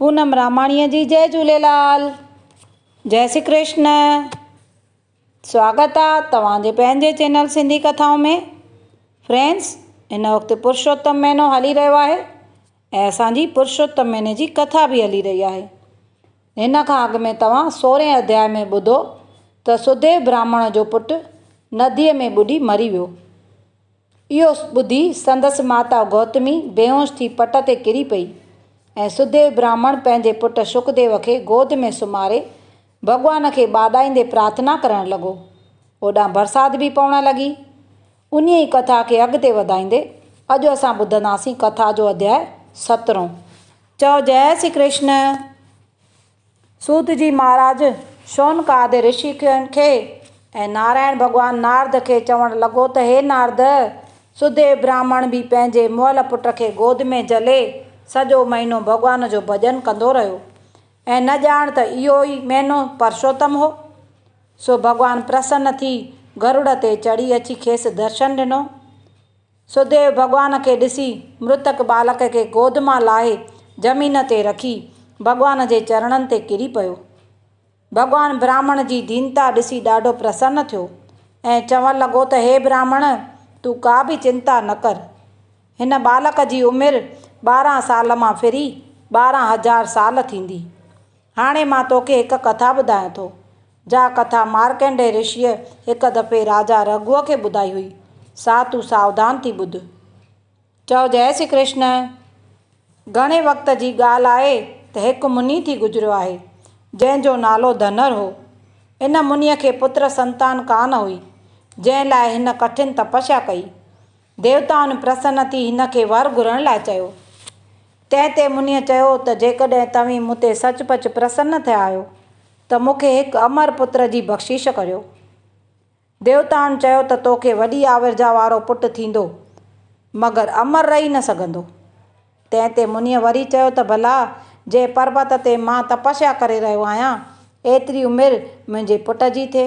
پونم راماڻيء جي جئه جهوليلال جئه سي ڪرشن سواگت آ توهان جي پنهنجي چينل سنڌي ڪٿائون ۾ فرينڊس هن وقت پرشوتم مهينو هلي رهيو آهي ۽ اسان جي پرشوتم مهيني جي ڪٿا به هلي رهي آهي هن کان اڳ ۾ توهان سورهين اڌيائي ۾ ٻڌو ته سڌيو برهمڻ جو پٽ نديء ۾ ٻڏي مري ويو اهو ٻڌي سندس ماتا گوتمي بيهوش ٿي پٽ تي ڪري پئي ۽ سڌيو براهمڻ پنهنجي پٽ شڪديو کي گود ۾ سمهاري ڀڳوان کي ٻاڏائيندي پرارٿنا ڪرڻ لڳو. اوڏانهن برسات به پوڻ لڳي. انهيء ئي ڪٿا کي اڳتي وڌائيندي اڄ اسان ٻڌنداسين ڪٿا جو اڌياء سترهون. چئو جئه شري ڪرشن! سوت جي مھاراج شونڪاد رشي کڻ کي ۽ نارائڻ ڀڳوان نارد کي چوڻ لڳو ته ھي نارد! سوديو براھمڻ به پنھنجي مئل پٽ کي گود ۾ جھلي سڄو مھينو ڀڳوان جو ڀڄن ڪندو رھيو ۽ نه ڄاڻ ته اھو ئي مھينو پرشوتم ھو. سو ڀڳوان پرسن ٿي گروڙ تي چڙھي اچي کيس درشن ڏنو سوديو ڀڳوان کي ڏسي مرتڪ ٻالڪ کي گود مان لاهي زمين تي رکي ڀڳوان جي چرڻن تي ڪري پيو. ڀڳوان براهمڻ جي دينتا ڏسي ڏاڍو پرسن ٿيو ۽ چوڻ لڳو ته هي براهمڻ تون ڪا به چنتا نه ڪر. هن ٻالڪ جي عمر ٻارهن سال مان ڦري ٻارهن هزار سال ٿيندي. هاڻي مان توکي هڪ ڪٿا ٻڌايان ٿو، جا ڪٿا مارڪنڊيء رشيء هڪ دفعي راجا رگهوء کي ٻڌائي هئي، سا تون ساوڌان ٿي ٻڌ. چؤ جئه شري ڪرشن! گهڻي وقت جي ڳالهه آهي ته هڪ مني ٿي گذريو آهي، جنهن جو نالو ڌنر هو. ان منيء کي پتر سنتان ڪانه هئي، جنهن لاء هن ڪٺن تپسيا ڪئي. ديوتائن پرسن ٿي هن کي ور گهرڻ لاء چيو. تنهن تي منيء چيو ته جيڪڏهن توهين مون تي سچ پچ پرسن ٿيا آهيو ته مون کي هڪ امر پتر جي بخشش ڪريو. ديوتائن چيو ته تو کي وڏي آورجا وارو پٽ ٿيندو، مگر امر رهي نه سگهندو. تنهن تي منيء وري چيو ته ڀلا جنهن پربت تي مان تپسيا ڪري رهيو آهيان، ايتري عمر منهنجي پٽ جي ٿئي.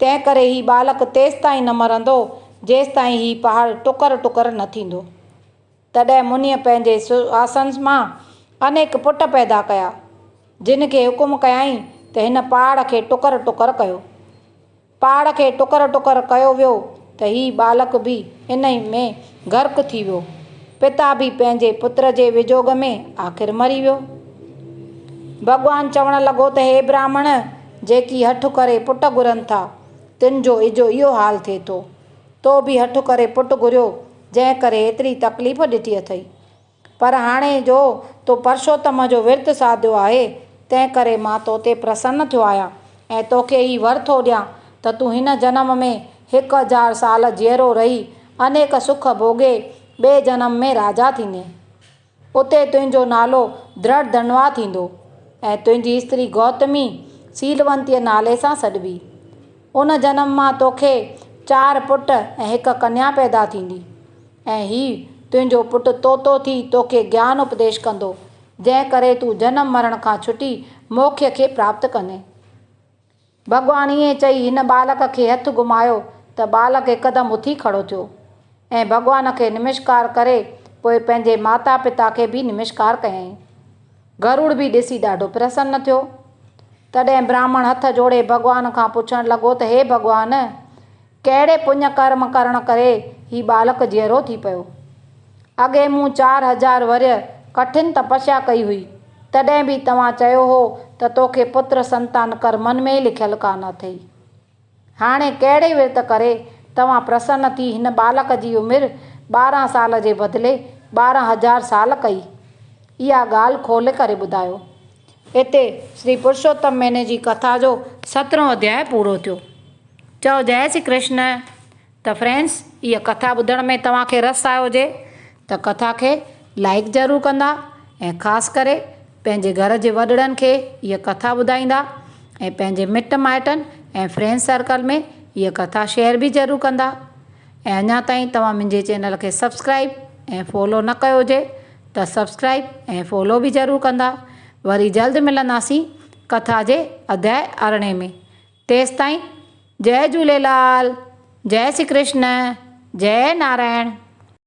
تنهن ڪري هي ٻالڪ تيستائين نه مرندو، جيستائين هي پهاڙ ٽڪر ٽڪر نه ٿيندو. تڏهن منيء پنهنجي سواسن مان انيڪ پٽ پيدا ڪيا، جن کي حڪم ڪيائين ته هن پهاڙ کي ٽڪر ٽڪر ڪيو. پهاڙ کي ٽڪر ٽڪر ڪيو ويو ته هي ٻالڪ به انهي ۾ غرق ٿي ويو. پتا به پنهنجي پتر جي وجوڳ ۾ آخر مري ويو. ڀڳوان چوڻ لڳو ته هي براهمڻ جيڪي هٺ ڪري پٽ گهرن ٿا، تن جو اجهو اهو حال ٿئي ٿو. تو به هٺ ڪري پٽ گهريو، جنهن ڪري ايتري تڪليف ڏٺي اٿئي. پر هاڻي جو تو پرشوتم جو ورت ساڌيو آهي، تنهن ڪري مان تو تي پرسن ٿيو آهيان ۽ توکي هي ور ٿو ڏيان ته تون هن جنم ۾ هڪ هزار سال جيئرو رهي انيڪ سک ڀوڳي ٻئي جنم ۾ راجا ٿيندين. اتي تنهنجو نالو درڙڌنوا ٿيندو ۽ تنهنجي استري گوتمي سيلونتيء نالي سان سڏبي. ان جنم مان توکي چار پٽ ۽ هڪ ڪنيا پيدا ٿيندي. ۽ هي تنهنجو پٽ طوطو ٿي توکي گيان اپديش ڪندو، جنهن ڪري تون جنم مرڻ کان ڇٽي موکي کي پراپت ڪندين. ڀڳوان ائين چئي هن ٻالڪ کي هٿ گهمايو ته ٻالڪ هڪدم اٿي کڙو ٿيو ۽ ڀڳوان کي نمشڪار ڪري پوء پنهنجي ماتا پتا کي به نمشڪار ڪيائين. گروڙ به ڏسي ڏاڍو پرسن ٿيو. تڏهن براهمڻ هٿ جوڙي ڀڳوان کان پڇڻ لڳو ته هي ڀڳوان! ڪهڙي پڃ ڪرم ڪرڻ ڪري هي ٻالڪ جيئرو ٿي پيو؟ اڳي مون چار هزار ورهيه ڪٺن تپسيا ڪئي هئي، تڏهن به توهان چيو هو ته توکي پتر سنتان ڪرمن ۾ لکيل ڪانه اٿئي. هاڻي ڪهڙي ورت ڪري توهان پرسن ٿي هن ٻالڪ جي عمر ٻارهن سال جي بدلي ٻارهن هزار سال ڪئي؟ اها ڳالهه کولي ڪري ٻڌايو. اتي شري پرشوتم مھيني جي ڪٿا جو سترھون اڌياء پورو ٿيو. چئو جئي شري ڪرشن. ته فرينڊس اھا ڪٿا ٻڌڻ ۾ توھان کي رس آيو ھجي ته ڪٿا کي لائيڪ ضرور ڪندا ۽ خاص ڪري پنھنجي گھر جي وڏڙن کي اھا ڪٿا ٻڌائيندا ۽ پنھنجي مٽ مائٽن ۽ فرينڊس سرڪل ۾ اھا ڪٿا شيئر به ضرور ڪندا ۽ اڃا تائين توھان منھنجي چينل کي سبسڪرائيب ۽ فالو نه ڪيو ھجي ته سبسڪرائب ۽ فالو به ضرور ڪندا وري جلد ملنداسين ڪٿا جي اڌيائي ارڙهين ۾ تيستائين جئه جهوليلال جئه سي ڪرشن جئه نارائڻ.